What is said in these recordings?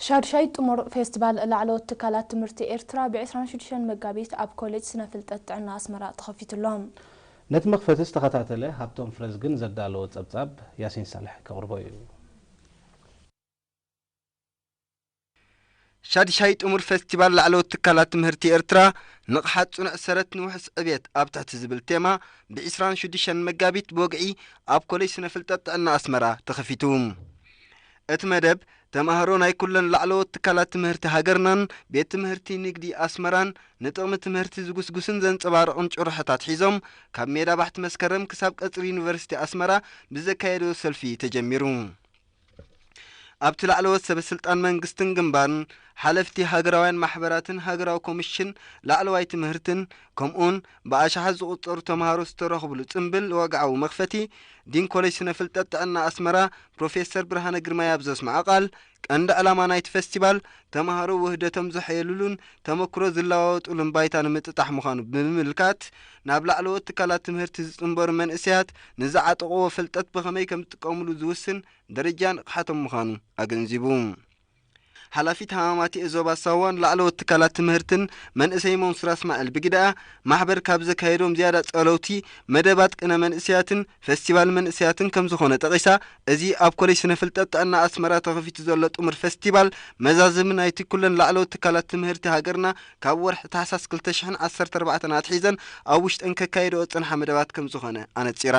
ሻዱሻይ ጥሙር ፌስቲቫል ላዕለዎት ትካላት ትምህርቲ ኤርትራ ብ ዕስራን ሽዱሽተን መጋቢት ኣብ ኮሌጅ ስነ ፍልጠት ጥዕና ኣስመራ ተኸፊቱ ኣሎ። ነቲ መኽፈቲ ዝተኸታተለ ሃብቶም ፍረዝግን ዘዳለዎ ጸብጻብ ያሲን ሳልሕ ከቕርቦ እዩ። ሻድሻይ ጥሙር ፈስቲቫል ላዕለዎት ትካላት ትምህርቲ ኤርትራ፣ ንቕሓት ጽኑዕ ሰረት ንውሑስ ዕብየት ኣብ ትሕቲ ዝብል ቴማ ብ ዕስራን ሽዱሽተን መጋቢት ብወግዒ ኣብ ኮሌጅ ስነ ፍልጠት ጥዕና ኣስመራ ተኸፊቱ። እቲ መደብ፣ ተማሃሮ ናይ ኩለን ላዕለዎት ትካላት ትምህርቲ ሃገርናን ቤት ትምህርቲ ንግዲ ኣስመራን ንጥቕሚ ትምህርቲ ዝጉስጉስን ዘንጸባርቕን ጭርሖታት ሒዞም ካብ ሜዳ ባሕቲ መስከረም ክሳብ ቀጽሪ ዩኒቨርሲቲ ኣስመራ ብዘካየድዎ ሰልፊ ተጀሚሩ። ኣብቲ ላዕለዎት ሰበስልጣን መንግስትን ግንባርን፣ ሓለፍቲ ሃገራውያን ማሕበራትን ሃገራዊ ኮሚሽን ላዕለዋይ ትምህርትን፣ ከምኡ'ውን ብኣሽሓት ዝቑጸሩ ተመሃሮ ዝተረኽብሉ ጽንብል ወግዓዊ መኽፈቲ፣ ዲን ኮለጅ ስነ-ፍልጠት ጥዕና ኣስመራ ፕሮፌሰር ብርሃነ ግርማይ ኣብ ዘስመዖ ቃል፣ ቀንዲ ዕላማ ናይቲ ፈስቲቫል፣ ተመሃሮ ውህደቶም ዘሐየሉሉን ተመክሮ ዝለዋወጡሉን ባይታ ንምጥጣሕ ምዃኑ ብምምልካት፣ ናብ ላዕለዎት ትካላት ትምህርቲ ዝጽንበሩ መንእሰያት ንዝዓጠቕዎ ፍልጠት ብኸመይ ከም ዝጥቀምሉ ዝውስን ደረጃ ንቕሓቶም ምዃኑ ኣገንዚቡ። ሓላፊት ሃማማተኤ ዞባ ሳዋን ላዕለዎት ትካላት ትምህርትን መንእሰይ ሞንሱራ እስማዒል ብግደኣ፣ ማሕበር ካብ ዘካየዶም ዝያዳ ጸለውቲ መደባት ቅነ መንእሰያትን፣ ፈስቲቫል መንእሰያትን ከምዝኾነ ጠቒሳ፣ እዚ ኣብ ኮሌጅ ስነ ፍልጠት ጥዕና ኣስመራ ተኸፊቱ ዘሎ ጥሙር ፈስቲቫል፣ መዛዘሚ ናይቲ ኩለን ላዕለዎት ትካላት ትምህርቲ ሃገርና ካብ ወርሒ ታሕሳስ ክልተ ሽሕን ዓሰርተ ኣርባዕተን ኣትሒዘን ኣብ ውሽጠን ከካይድኦ ዝጸንሓ መደባት ከምዝኾነ ኣነጺራ።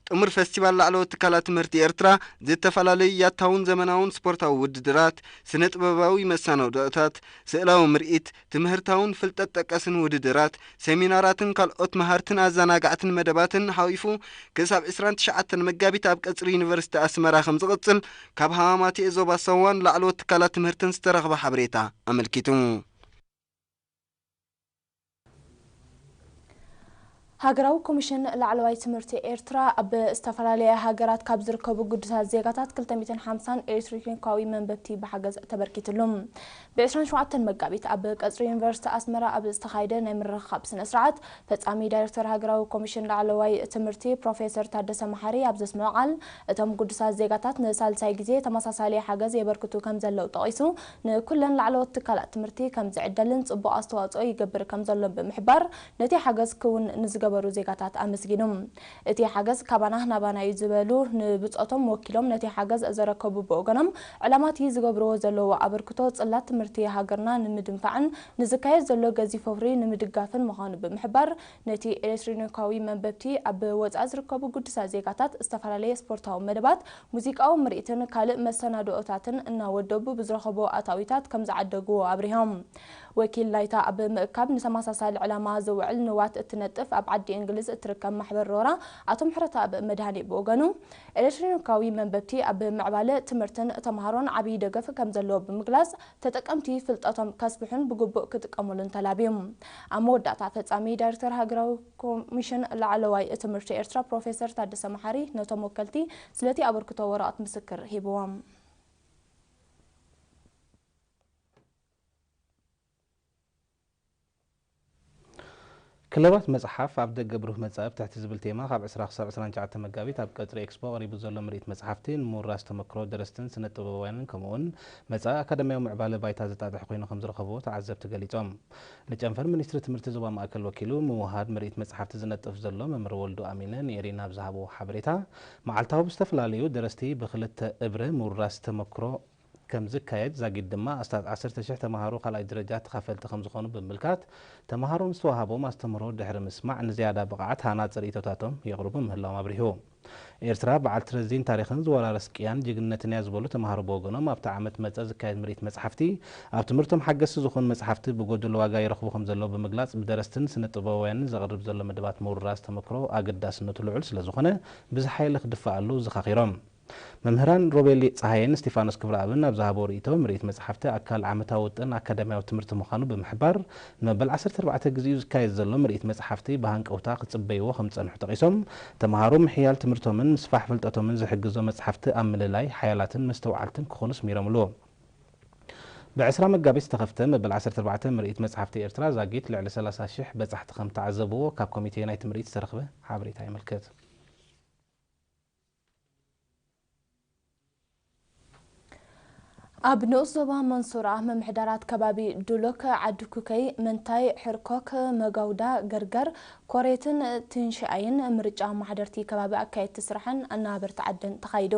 ጥሙር ፈስቲቫል ላዕለዎት ትካላት ትምህርቲ ኤርትራ፣ ዝተፈላለዩ ያታውን ዘመናውን ስፖርታዊ ውድድራት፣ ስነ ጥበባዊ መሳነውድኦታት፣ ስእላዊ ምርኢት፣ ትምህርታውን ፍልጠት ጠቀስን ውድድራት፣ ሰሚናራትን ካልኦት መሃርትን ኣዘናጋዕትን መደባትን ሓቚፉ ክሳብ ዕስራን ትሽዓተን መጋቢት ኣብ ቀጽሪ ዩኒቨርሲቲ ኣስመራ ከምዝቕጽል ካብ ሃማማትኤ ዞባ ሳዋን ላዕለዎት ትካላት ትምህርትን ዝተረኽበ ሓበሬታ ኣመልኪቱ። ሃገራዊ ኮሚሽን ላዕለዋይ ትምህርቲ ኤርትራ፣ ኣብ ዝተፈላለያ ሃገራት ካብ ዝርከቡ ግዱሳት ዜጋታት ክልተ ሚእትን ሓምሳን ኤሌክትሪክኒካዊ መንበብቲ ብሓገዝ ተበርኪትሉ። ብ ዕስራን ሸውዓተን መጋቢት ኣብ ቀጽሪ ዩኒቨርሲቲ ኣስመራ ኣብ ዝተኻየደ ናይ ምርኽኻብ ስነ-ስርዓት፣ ፈጻሚ ዳይረክተር ሃገራዊ ኮሚሽን ላዕለዋይ ትምህርቲ ፕሮፌሰር ታደሰ መሓሪ ኣብ ዘስምዖ ቃል፣ እቶም ግዱሳት ዜጋታት ንሳልሳይ ግዜ ተመሳሳሊ ሓገዝ የበርክቱ ከምዘለዉ ጠቒሱ፣ ንኩለን ላዕለዎት ትካላት ትምህርቲ ከም ዝዕደልን ፅቡቕ ኣስተዋፅኦ ይገብር ከም ዘሎን ብምሕባር ነቲ ሓገዝ ክውን ንዝገበሩ ዜጋታት ኣመስጊኑ። እቲ ሓገዝ ካባና ናባና እዩ ዝበሉ ንብፆቶም ወኪሎም ነቲ ሓገዝ ዘረከቡ ብወገኖም ዕላማቲ ዝገብርዎ ዘለዉ ኣበርክቶ ፅላት ትምህርቲ ሃገርና ንምድንፋዕን ንዝካየድ ዘሎ ገዚፍ ወፍሪ ንምድጋፍን ምዃኑ ብምሕባር ነቲ ኤሌትሪኒካዊ መንበብቲ ኣብ ወፃኢ ዝርከቡ ግዱሳት ዜጋታት ዝተፈላለየ ስፖርታዊ መደባት ሙዚቃዊ ምርኢትን ካልእ መሰናድኦታትን እናወደቡ ብዝረኸብዎ ኣታዊታት ከምዝዓደግዎ ኣብሪሆም። ወኪል ናይታ ኣብ ምእካብ ንተመሳሳሊ ዕላማ ዝውዕል ንዋት እትነጥፍ ኣብ ዓዲ እንግሊዝ እትርከብ ማሕበር ሮራ ኣቶ ምሕረተኣብ መድሃኔ ብወገኑ ኤሌክትሮኒካዊ መንበብቲ ኣብ ምዕባለ ትምህርትን ተምሃሮን ዓብዪ ደገፍ ከምዘለዎ ብምግላፅ ተጠቀምቲ ፍልጠቶም ከስፍሑን ብግቡእ ክጥቀሙሉን ተላብዩ። ኣብ መወዳእታ ፈፃሚ ዳይሬክተር ሃገራዊ ኮሚሽን ላዕለዋይ ትምህርቲ ኤርትራ ፕሮፌሰር ታደሰ መሓሪ ነቶም ወከልቲ ስለቲ ኣበርክቶ ወረቕት ምስክር ሂብዎም። ክለባት መጽሓፍ ኣብ ደገ ብሩህ መጻኢ ብትሕቲ ዝብል ቴማ ካብ ዕስራ ክሳብ ዕስራን ትሽዓተ መጋቢት ኣብ ቀጽሪ ኤክስፖ ቀሪቡ ዘሎ ምርኢት መጽሓፍቲ ንምውራስ ተመክሮ ደረስትን ስነ ጥበባውያንን ከምኡ'ውን መጻኢ ኣካዳሚያዊ ምዕባለ ባይታ ዘጣጥሕ ኮይኑ ከምዝረኸብዎ ተዓዘብቲ ገሊጾም። ንጨንፈር ሚኒስትሪ ትምህርቲ ዞባ ማእከል ወኪሉ ምውህሃድ ምርኢት መጽሓፍቲ ዝነጥፍ ዘሎ መምህር ወልዱ ኣሚነ ንኤሪና ኣብ ዝሃብዎ ሓበሬታ፣ መዓልታዊ ብዝተፈላለዩ ደረስቲ ብክልተ እብረ ምውርራስ ተመክሮ ከምዝካየድ ዛጊድ ድማ ኣስታት ዓሰርተ ሽሕ ተመሃሮ ካልኣይ ደረጃ ተኻፈልቲ ከምዝኾኑ ብምምልካት ተመሃሮ ንዝተወሃቦም ኣስተምህሮ ድሕሪ ምስማዕ ንዝያዳ ብቐዓት ሃናጺ ርእይቶታቶም የቕርቡ ምህላዎም ኣብሪሁ። ኤርትራ በዓልቲ ረዚን ታሪኽን ዝወራረስ ቅያን ጅግንነትን እያ ዝበሉ ተማሃሮ ብወገኖም ኣብቲ ዓመት መጸ ዝካየድ ምርኢት መጽሓፍቲ ኣብ ትምህርቶም ሓገዝቲ ዝኾኑ መጽሓፍቲ ብጎደሎ ዋጋ ይረኽቡ ከምዘለዉ ብምግላጽ ብደረስትን ስነ-ጥበባውያንን ዘቕርብ ዘሎ መደባት ምውርራስ ተመክሮ ኣገዳስነቱ ልዑል ስለዝኾነ ብዝሓየለ ክድፋኣሉ ዘኻኺሮም። መምህራን ሮቤል ጸሃየን እስቲፋኖስ ክብረኣብን ኣብ ዝሃብዎ ርእይቶ ምርኢት መጽሓፍቲ ኣካል ዓመታዊ ውጥን ኣካዳሚያዊ ትምህርቲ ምዃኑ ብምሕባር ንመበል ዓሰርተ ኣርባዕተ ግዜኡ ዝካየድ ዘሎ ምርኢት መጽሓፍቲ ብሃንቀውታ ክጽበይዎ ከም ዝጸንሑ ጠቒሶም፣ ተመሃሮ ምሕያል ትምህርቶምን ምስፋሕ ፍልጠቶምን ዝሕግዞ መጽሓፍቲ ኣብ ምልላይ ሓያላትን መስተውዓልትን ክኾኑ ስሚሮምሉ። ብ ዕስራ መጋቢት ዝተኸፍተ መበል ዓሰርተ ኣርባዕተ ምርኢት መጽሓፍቲ ኤርትራ ዛጊት ልዕሊ ሰላሳ ሽሕ በጻሕቲ ከም እተዓዘብዎ ካብ ኮሚቴ ናይቲ ምርኢት ዝተረኽበ ሓበሬታ የመልክት። ኣብ ንኡስ ዞባ መንሱራ ምምሕዳራት ከባቢ ዱሎክ፣ ዓዲ ኩከይ፣ መንታይ፣ ሕርኮክ፣ መጋውዳ፣ ገርገር፣ ኮሬትን ትንሽኣይን ምርጫ ኣመሓደርቲ ከባቢ ኣካየድቲ ስራሕን ኣነባበርቲ ዓድን ተኻይዱ።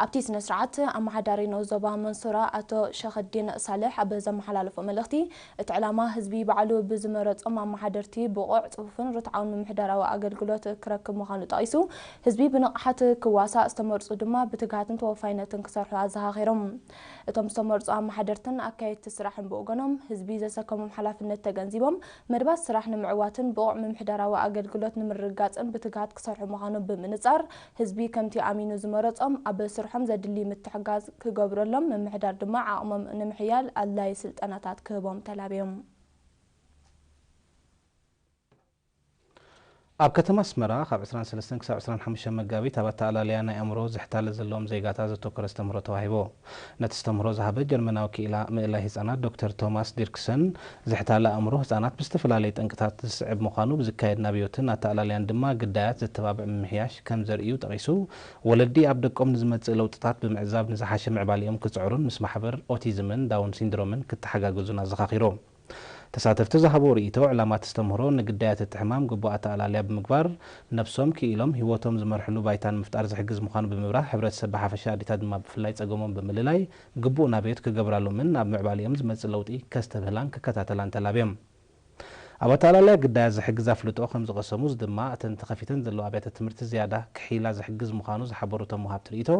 ኣብቲ ስነ ስርዓት ኣመሓዳሪ ንኡስ ዞባ መንሱራ ኣቶ ሸክዲን ሳልሕ ኣብ ዘመሓላለፎ መልእኽቲ፣ እቲ ዕላማ ህዝቢ ባዕሉ ብዝመረፆም ኣመሓደርቲ ብቑዕ፣ ፅፉፍን ርትዓውን ምምሕዳራዊ ኣገልግሎት ክረክብ ምዃኑ ጠቒሱ፣ ህዝቢ ብንቕሓት ክዋሳእ፣ ዝተመርፁ ድማ ብትግሃትን ተወፋይነትን ክሰርሑ ኣዘኻኺሮም። እቶም ዝተመርፁ ኣመሓደርትን ኣካየድቲ ስራሕን ብወገኖም፣ ህዝቢ ዘሰከሞም ሓላፍነት ተገንዚቦም መደባት ስራሕ ንምዕዋትን ብቑዕ ምምሕዳራዊ ኣገልግሎት ንምርግጋፅን ብትግሃት ክሰርሑ ምዃኖም ብምንፃር ህዝቢ ከምቲ ኣሚኑ ዝመረጾም ኣብ ስርሖም ዘድሊ ምትሕጋዝ ክገብረሎም፣ ምምሕዳር ድማ ዓቕሞም ንምሕያል ኣድላዪ ስልጠናታት ክህቦም ተላብዮም። ኣብ ከተማ ኣስመራ ካብ ዕስራን ሰለስተን ክሳብ ዕስራን ሓሙሽተን መጋቢት ኣብ ኣተኣላልያ ናይ ኣእምሮ ዝሕታለ ዘለዎም ዜጋታት ዘተኮረ ኣስተምህሮ ተዋሂቡ። ነቲ ኣስተምህሮ ዝሃበ ጀርመናዊ ክኢላ ምእላይ ህጻናት ዶክተር ቶማስ ዲርክሰን፣ ዝሕታለ ኣእምሮ ህጻናት ብዝተፈላለየ ጠንቅታት ዝስዕብ ምዃኑ፣ ብዝካየድ ናብዮትን ኣተኣላልያን ድማ ግዳያት ዘተባብዕ ምምሕያሽ ከም ዘርእዩ ጠቒሱ፣ ወለዲ ኣብ ደቆም ንዝመጽእ ለውጥታት ብምዕዛብ ንዝሓሸ ምዕባሌኦም ክጽዕሩን ምስ ማሕበር ኦቲዝምን ዳውን ሲንድሮምን ክተሓጋገዙን ኣዘኻኺሩ። ተሳተፍቲ ዝሃብዎ ርእይቶ፣ ዕላማ እቲ ኣስተምህሮ ንግዳያት እቲ ሕማም ግቡእ ኣተኣላልያ ብምግባር ነብሶም ክኢሎም ህይወቶም ዝመርሕሉ ባይታ ንምፍጣር ዝሕግዝ ምዃኑ ብምብራህ ሕብረተሰብ ብሓፈሻ ኣዴታት ድማ ብፍላይ ጸገሞም ብምልላይ ግቡእ ናብዮት ክገብራሎምን ኣብ ምዕባሌኦም ዝመጽእ ለውጢ ከስተብህላን ክከታተላን ተላብዮም ኣብ ኣተኣላልያ ግዳያት ዝሕግዝ ኣፍልጦ ከምዝቐሰሙ እዚ ድማ እተን ተኸፊተን ዘለዋ ኣብያተ ትምህርቲ ዝያዳ ክሕይላ ዝሕግዝ ምዃኑ ዝሓበሩ እቶም ወሃብቲ ርእይቶ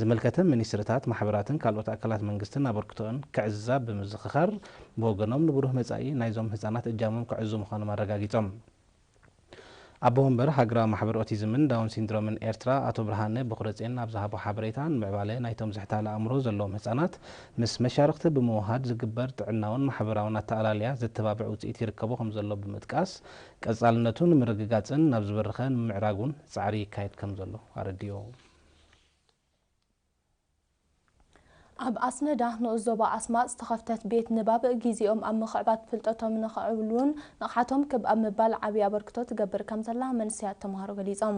ዝምልከተን ሚኒስትሪታት ማሕበራትን ካልኦት ኣካላት መንግስትን ኣበርክቶኣን ከዕዝዛ ብምዝኽኻር ብወገኖም ንብሩህ መጻኢ ናይዞም ህጻናት እጃሞም ክዕዙ ምዃኖም ኣረጋጊጾም። ኣቦ ወንበር ሃገራዊ ማሕበር ኦቲዝምን ዳውን ሲንድሮምን ኤርትራ ኣቶ ብርሃነ ቦኽረጼን ኣብ ዝሃቦ ሓበሬታ ንምዕባለ ናይቶም ዝሕታለ ኣእምሮ ዘለዎም ህጻናት ምስ መሻርኽቲ ብምውሃድ ዝግበር ጥዕናውን ማሕበራውን ኣተኣላልያ ዘተባብዕ ውጽኢት ይርከቦ ከምዘሎ ብምጥቃስ ቀጻልነቱ ንምርግጋጽን ናብ ዝበረኸ ንምምዕራጉን ጻዕሪ ይካየድ ከምዘሎ ኣረዲኡ። ኣብ ኣስመዳ ንኡስ ዞባ ኣስማጥ ዝተኸፍተት ቤት ንባብ ጊዜኦም ኣብ ምኽዕባት ፍልጠቶም ንኸዕብሉን ንቕሓቶም ክብ ኣብ ምባል ዓብዪ ኣበርክቶ ትገብር ከም ዘላ መንሰያት ተምሃሮ ገሊፆም።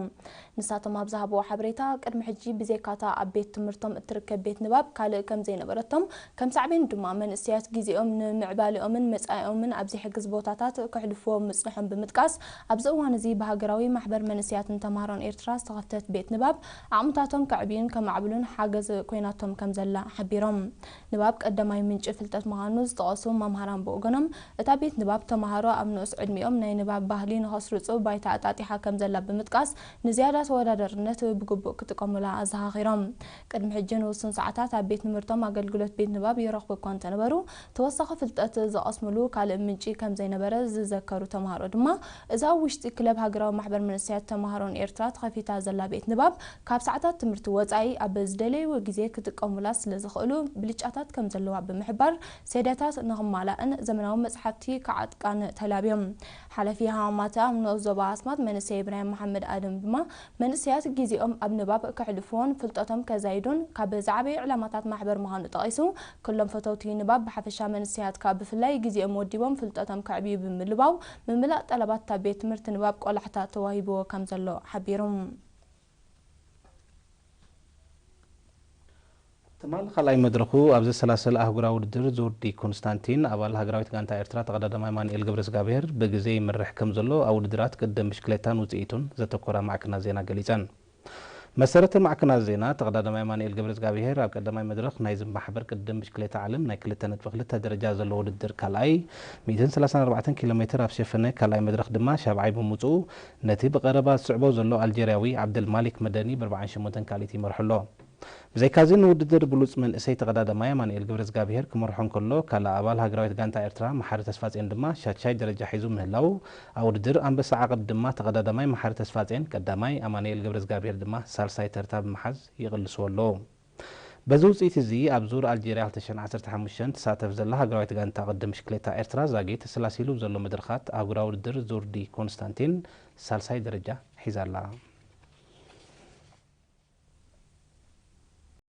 ንሳቶም ኣብ ዝሃብዎ ሓበሬታ ቅድሚ ሕጂ ብዘይካ እታ ኣብ ቤት ትምህርቶም እትርከብ ቤት ንባብ ካልእ ከም ዘይነበረቶም ከም ሳዕቤኑ ድማ መንእሰያት ጊዜኦም ንምዕባሌኦምን መፃኢኦምን ኣብ ዘይሕግዝ ቦታታት ከሕልፍዎ ምፅንሖም ብምጥቃስ ኣብዚ እዋን እዚ ብሃገራዊ ማሕበር መንእሰያትን ተምሃሮን ኤርትራ ዝተኸፍተት ቤት ንባብ ዓቕምታቶም ከዕብዩን ከማዕብሉን ሓገዝ ኮይናቶም ከምዘላ ሓቢሮም። ንባብ ቀዳማይ ምንጪ ፍልጠት ምዃኑ ዝጠቐሱ መምሃራን ብወገኖም፣ እታ ቤት ንባብ ተመሃሮ ኣብ ንኡስ ዕድሚኦም ናይ ንባብ ባህሊ ንኸስርጹ ባይታ ኣጣጢሓ ከምዘላ ብምጥቃስ፣ ንዝያዳ ተወዳዳርነት ብግቡእ ክጥቀሙላ ኣዘኻኺሮም። ቅድሚ ሕጂ ንውሱን ሰዓታት ኣብ ቤት ንምህርቶም ኣገልግሎት ቤት ንባብ ይረኽቡ እኳ እንተነበሩ፣ ተወሳኺ ፍልጠት ዝቐስምሉ ካልእ ምንጪ ከም ዘይነበረ ዝዘከሩ ተማሃሮ ድማ፣ እዛ ኣብ ውሽጢ ክለብ ሃገራዊ ማሕበር መንእሰያት ተማሃሮን ኤርትራ ተኸፊታ ዘላ ቤት ንባብ፣ ካብ ሰዓታት ትምህርቲ ወጻኢ ኣብ ዝደለይዎ ግዜ ክጥቀሙላ ስለ ዝኽእሉ ብልጫታት ከም ዘለዋ ብምሕባር፣ ሴደታት ንኽማላእን ዘመናዊ መጽሓፍቲ ክዓጥቃን ተላብዮም። ሓላፊ ሃማማተኣ ኣብ ንኡስ ዞባ ኣስማጥ መንእሰይ ኢብራሂም መሓመድ ኣደም ድማ፣ መንእሰያት ግዜኦም ኣብ ንባብ ከሕልፉዎን ፍልጠቶም ከዛይዱን ካብ ዝዓበዩ ዕላማታት ማሕበር ምዃኑ ጠቒሱ፣ ክሎም ፈተውቲ ንባብ ብሓፈሻ መንእሰያት ከኣ ብፍላይ ግዜኦም ወዲቦም ፍልጠቶም ከዕብዩ ብምልባው ምምላእ ጠለባት እታ ቤት ትምህርቲ ንባብ ቆላሕታ ተዋሂቡዎ ከም ዘሎ ሓቢሩ። ትማል ካልኣይ መድረኹ ኣብ ዘሰላሰል ኣህጉራዊ ውድድር ዙርዲ ኮንስታንቲን፣ ኣባል ሃገራዊት ጋንታ ኤርትራ ተቐዳዳማይ ኣማኑኤል ገብረዝጋብሄር ብግዜ ይመርሕ ከምዘሎ ኣብ ውድድራት ቅድድም ብሽክሌታን ውጽኢቱን ዘተኮራ ማዕከናት ዜና ገሊጸን። ብመሰረተ ማዕከናት ዜና፣ ተቐዳዳማይ ኣማኑኤል ገብረዝጋብሄር ኣብ ቀዳማይ መድረኽ ናይዚ ማሕበር ቅድድም ብሽክሌታ ዓለም ናይ ክልተ ነጥቢ ክልተ ደረጃ ዘለዎ ውድድር ካልኣይ፣ ሚእትን ሰላሳን ኣርባዕተን ኪሎሜተር ኣብ ዝሸፈነ ካልኣይ መድረኽ ድማ ሻብዓይ ብምውጽኡ ነቲ ብቐረባ ዝስዕቦ ዘሎ ኣልጀርያዊ ዓብደልማሊክ መደኒ ብኣርብዓን ሸሞንተን ካልኢት ይመርሖ ኣሎ። ብዘይካ'ዚ ንውድድር ብሉጽ መንእሰይ ተቐዳዳማይ ኣማኑኤል ገብረዝጋብሄር ክመርሖ እንከሎ፣ ካልእ ኣባል ሃገራዊት ጋንታ ኤርትራ መሓሪ ተስፋጼን ድማ ሻድሻይ ደረጃ ሒዙ ምህላዉ፣ ኣብ ውድድር ኣንበሳ ዓቐብ ድማ ተቐዳዳማይ መሓሪ ተስፋጼን ቀዳማይ፣ ኣማኑኤል ገብረዝጋብሄር ድማ ሳልሳይ ተርታ ብምሓዝ ይቕልስዎ ኣሎ። በዚ ውጽኢት'ዚ ኣብ ዙር ኣልጀርያ ክልተ ሽሕን ዓሰርተ ሓሙሽተን ትሳተፍ ዘላ ሃገራዊት ጋንታ ቅድድም ብሽክሌታ ኤርትራ ዛጊት ሰላሲሉ ብዘሎ መድረኻት ኣህጉራዊ ውድድር ዙር ዲ ኮንስታንቲን ሳልሳይ ደረጃ ሒዛ ኣላ።